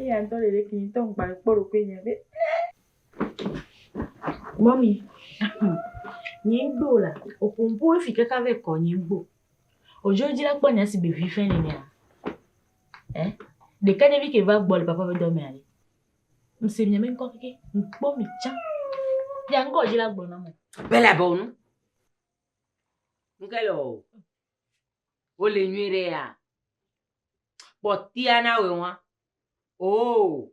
Eya ŋutɔ ɖeɖefia ŋutɔ ŋgba kpɔ ɖokui nye be mɔmi nye ŋgbe o la oƒompo efi kaka ve kɔ nye ŋgbe o odzo dzi la kpɔ nya si be vi fɛn ne nea eh ɖeka nye vi ke va gbɔ le papa be dɔ mea le ŋse nya me ŋkɔ keke ŋkpɔ mi tsã ya ŋgɔ dzi la gblɔ na mo bela bɔ nu ŋkɛ lɔ Wole nyuiɖe ya? Kpɔtɛa na wɛ ŋwa. Oo,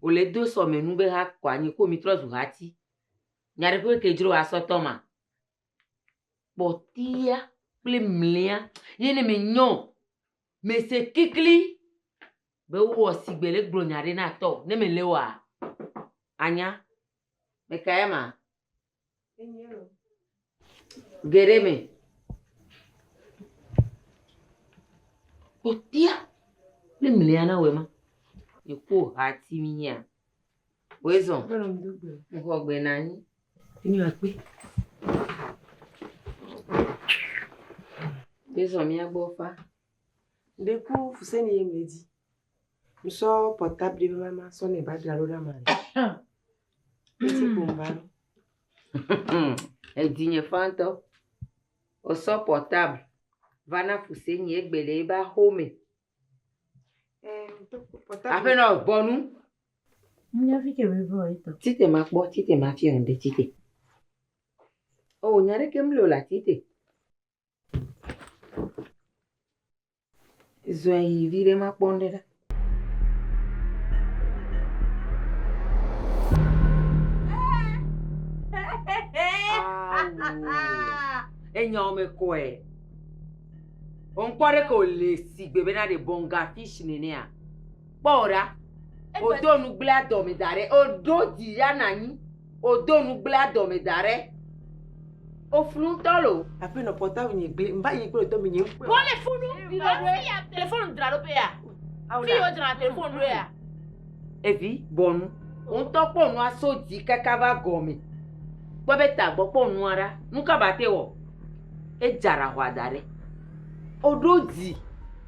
wòle do sɔmɛ nu be ha kɔ anyi ko mi trɔ zu hati. Nya ɖe ƒe ke dzro asɔ tɔ ma? Kpɔtɛa kple mlɛa ye ne me nyɔ o. Me se klikli be wo wɔ sigbe le gblɔ nya ɖe na tɔ. Ne me le wɔa, anya. Me ka ya ma? Geɖe me. Kpɔtɔa ne mlia na wema. Èkpɔ hati mi nyea? Wezɔn. Ŋgɔ gbe na anyi. Enyi akpe. Wezɔn mia gbɔ fa. Ɖeku fuseni ye medi. Nsɔ pɔtabli be mama sɔ ne ba dra ɖo ɖa ma. Esi ko mba. Edi nye fantɔ. Osɔ pɔtabli va na fuse nye egbe le eba home. Aƒe nɔ bɔnu. Nya fi ke bebe o ito. Tite ma kpɔ, tite ma fi on de tite. O nya ɖe ke mlo la tite. Zɔe yi viɖe makpɔ ŋɖe ɖa. Enyawo me kɔe. Onkpɔ ɖe ko le sigbe bena ɖe bɔnga fish nenea. Kpɔ wò ɖa. Wodo nugblẽa dɔme da ɖɛ. Woɖo dzi ya na anyi. Wodo nugblẽa dɔme da ɖɛ. Woflu ŋutɔ loo. Aƒenɔ portable nye gblẽ. Mva yi kple wò tɔgbi nye ŋkpɔe. Wo le funu. Afi ya telefonu dzra ɖo ƒe ya. Fi yi wodzrana telefonu ɖo ya. Evi bɔ nu. Wò ŋutɔ kpɔ wò nua so dzi kaka va gɔme. Kpɔ eƒe tagbɔ. Kpɔ wò nua ɖa. Nuka ba te wɔ? Edza ɖa hɔa da ɖɛ. Woɖo dzi.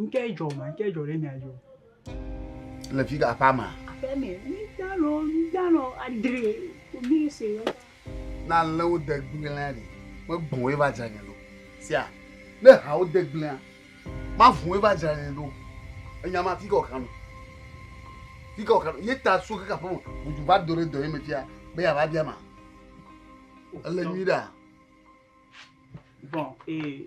Ŋkɛ dzɔ ma, ŋkɛ dzɔ ɖe mia dzɔ. Le fi ka aƒa ma? Aƒa me, mi ta lɔ, mi ta lɔ adre, mi se lɔ. Na lé wo de gblẽa ɖi, me gbɔn wo va dzra nye ɖo. Sia, ne ha wo de gblẽa, ma vun wo va dzra nye ɖo. Enya ma fi ka ɔkanu. Fi ka ɔkanu. Ye ta so ke ka fɔn, budu va do re do ye me fia, be ya va bia ma. Ele nyui ɖa. Bon, eh.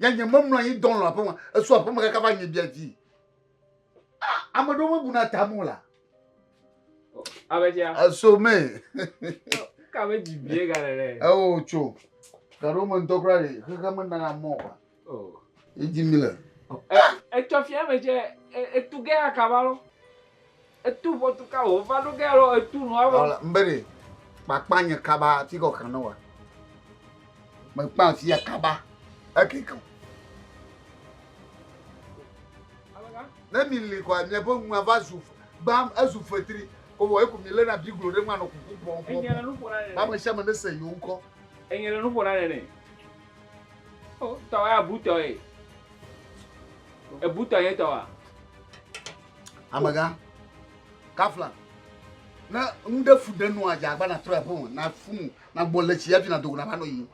Ya nye memlɔ anyi dɔlɔ aƒeme. Esu aƒeme kaka va nye bia dzi. Ah, ame ɖewo mebuna ta mo la. Abetsia. Eso me. Ka me dzi bie ga le ɖe. Ewo tso. Ga ɖewo me ŋutɔ kura ɖe xexe me nana mɔ wa. Oh. Edzi mi le. Etsɔ fia me tse etu ge akaba lɔ. Etu ʋɔtu ka wò va ɖo ge alo etu nua vɔ? Ɔla, mbe ɖe kpakpa nye kaba ti kɔ kan wa. Me kpa ti ya kaba eke kan. Ne mi li kɔ nye bo nwa va zu bam ezu fetri ko wɔ eko mi le na biglo ɖe nwa no kuku pɔ pɔ. Enye le nu ƒo na ne. Ba me sha me ne se yo nkɔ. Enye le nu ƒo na ne ne. O tɔ ya butɔ ye. Ebutɔ ye tɔ wa. Amega, kafla. Ne nu ɖe fu ɖe nua dza agba na trɔ aƒe me na fu mu na gbɔ le tsi yafi na dogo na va nɔ yi.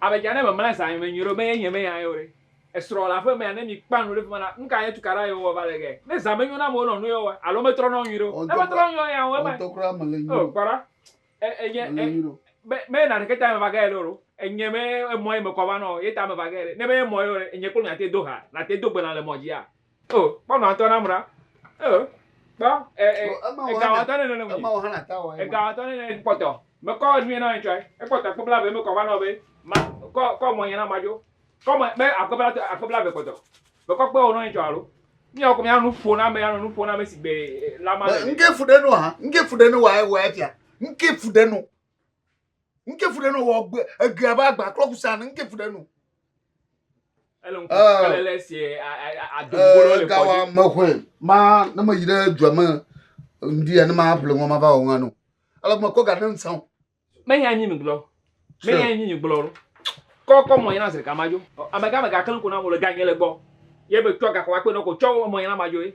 Amega ne me mla zan me nyuie ɖo me ye nye me ya yo ɖe. Esrɔ le aƒe me ya ne mi kpa nu ɖe fi ma na nuka ye tukaɖa ye wɔ va le ge. Ne zan me nyo na me wo nɔ nu ye wɔ alo me trɔ nɔ nyuie ɖo. Eme trɔ nyo ya wo ema. Ɔtɔ kura me le nyuie. Oh kpɔɖa. E enye e me me na ɖeke ta me va ge ɖe ɖo. Enye me emɔ ye me kɔ va nɔ ye ta me va ge ɖe. Ne me emɔ ye ɖe enye kple mi ate do ha na te do gbe na le mɔ dzi ya. O, kpɔ nɔ atɔ nam ɖa. O, kpɔ e e egawɔtɔ ne nene mu. Ema wɔ hã na ta wɔ. Egawɔtɔ ne nene kpɔtɔ. Me kɔ nue na ŋtsɔe. Ekpɔtɔ kpebla ve me kɔ va nɔ be ma kɔ kɔ mɔ nye na ma dzo. Kɔ mɔ be akpebla tɔ akpebla ve kpɔtɔ. Me kɔ kpe wɔ nɔ ŋtsɔ alo. Mi ɔkɔ mi anu fo na me anu nu fo na me sigbe lama. Ŋke fu ɖe nu ha. Ŋke fu ɖe nu wa wa fia. Ŋke fu ɖe nu. nke fu ɖe no wɔ gbe egbe abe agba klɔ kusa ne nke fu ɖe no. ele ŋku Ah. ele le si adogolo le gawa kɔdzi me hwe ma ne me yi ɖe dua me ŋdi ya ne ma ƒle ŋɔ ma va wɔ ŋa no ele me kɔ ga ne ŋsan o menye anyi mi gblɔ Sure. menye anyi mi gblɔ lo kɔ kɔ mɔ yina zrika ma jo amega mega kelenko na mo le ganye le gbɔ ye be tsɔ gakɔ wa kpe nɔ ko tsɔ mɔ yina ma jo ye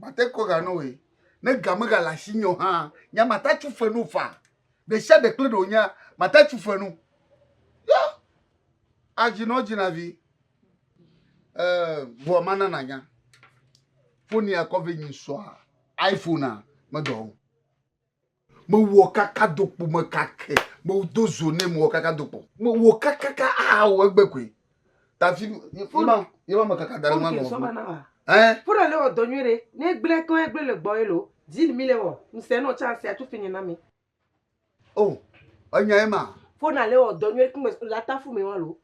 Mate kɔ ga nɔwoe. Ne ga megale asinye o hã, nya mate tso fe no faa. Ɖesiaɖe kple ɖe wònyea, mate tso fe no. Yɔ, adzi nɔ dzina vi. Ee, vɔa mana nanya. Foni akɔ ve nyi sɔa. iPhonea medɔ o. Mewɔ kakadokpo me kake. Medo zo nɛ mewɔ kakadokpo. Mewɔ kakaka ahawɔ egbe koe. Tafi yema yema mekaka da ɖe nua gɔme. Ɛɛ. Fona le wɔ dɔ nyuie ɖe. Ne egble keŋ egble le gbɔ elo. Zin mi le wɔ. Ŋsɛ nɔ tsa ŋsɛ atu fini na mi. Oh enya yema. Fona le wɔ dɔ nyuie ɖe. Ŋgbe le atafu mɛ wa loo.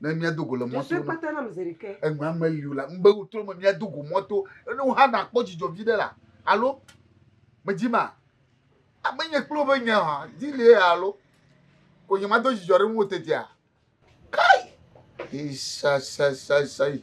ne míado go le mɔto egbea meli o la mbe wotro me míado go mɔto ene wo hã nakpɔ dzidzɔ vi ɖe la alo medzi ma ame nye kple woƒe nya ha dzi lie alo ko nye mado dzidzɔ ɖe ŋu tetea kai isasasasai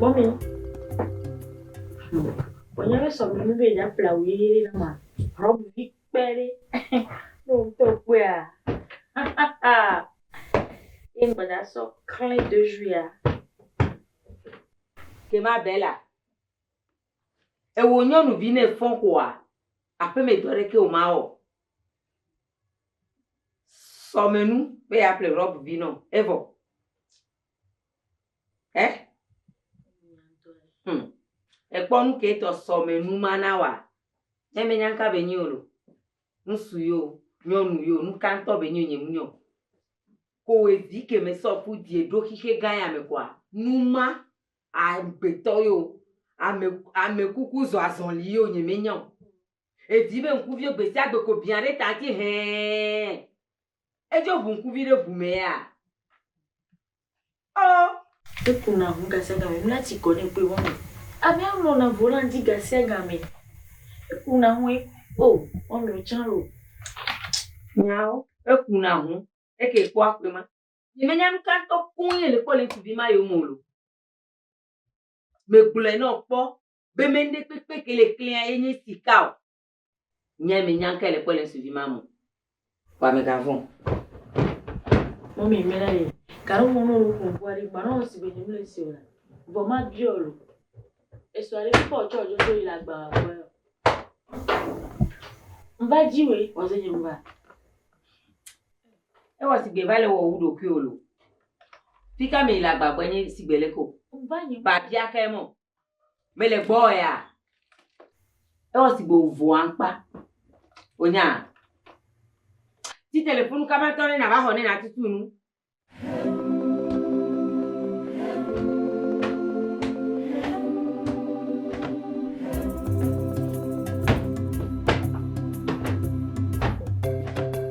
Mɔmi, wònye be sɔmi nu be ya ƒle awu ʋi ɖe na ma, rɔbu vi kpe ɖe, ne wòtɔ kpea, ye ŋgbe da sɔ klẽ do zuia. Ke ma Bella. Ewò nyɔnuvi ne fɔ xɔa, aƒeme dɔ ɖe ke wò ma wɔ. Sɔme nu be ya ƒle rɔb vi nɔ evɔ. Ɛ? Hm. Ekpɔ nu ke tɔ sɔme nu ma na wa. Ne me nyanka be nyi olo. Nusu yo, nyɔnu yo, nukantɔ be nyi nye mu nyɔ. Ko we vi ke me sɔ fu die ɖo xixe gã ya me kɔa, numa agbetɔ yeo, ame, ame kuku zɔ azɔli yeo nye me nya o. Edi be ŋkuvio gbesiagbe ko biã ɖe ta ŋti hɛɛn. Edzo ʋu ŋkuvi ɖe ʋu me ya? Ɔ! Eku na ŋu gasiagame mla tsi kɔ nɛ kpɔe be mɔmi, ame a mlɔ na vo la ŋti gasiagame. Eku na ŋu e, o, mɔmi o tsa lo. Nyao, eku na ŋu, eke kpɔa kpɔe ma. Yemenya nu ka ŋutɔ koŋ ye nèkpɔ le ŋutsuvi ma yome o lo. Megblɔe na wò kpɔ be me nuɖe kpekpe ke le klẽa ye nye sika o. Nyae menya nu kae nèkpɔ le ŋutsuvi ma me o. Vɔa mègavɔ̃ o. Mɔmi, mena nye kaɖomɔnu wò nuƒo ŋkua ɖi. Gbanɔ nu si gbe nye mele ese o la, vɔ mabiɔ wò o. Èsɔ ɖe ŋu kpɔ tsɔ dzo so yi le agbawa gbɔ ya o. Mva dzi wòe, wòaze nye nuva. Ewɔ sigbe va le wɔ wu ɖokui o lo. Fika me yi le agbagbe nyi sigbe le ko. Ba bia ke mo. Me le gbɔ ya. Ewɔ sigbe wo vo ankpa. Onya. Ti telefonu kama tɔ ne na va xɔ ne na tutu nu.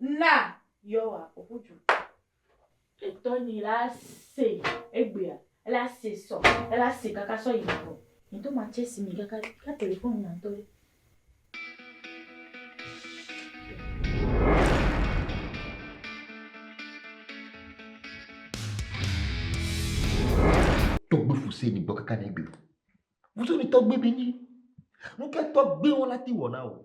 Na Yehowa ƒo ƒu du. Etɔ nyi la se egbea, ela se sɔ, ela se kaka sɔ yi navɔ. Ŋutɔ ma tse si mi kaka ka telefon nya ŋutɔ ɖe. Tɔgbe fuse ni gbɔ kaka ne egbe. Fuse ni tɔgbe bi ni. Nukɛ tɔgbe wɔna ti wɔna o.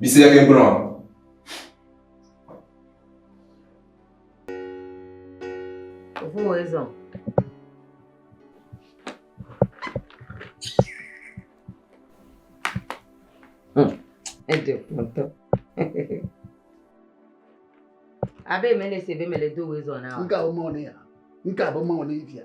Mise ɖe ke gblɔ. Ʋu ezɔ. Eɖe kpɔtɔ. Abe mele se be mele do ezɔ na. Nka o mɔ ne ya. Nka bo mɔ ne via.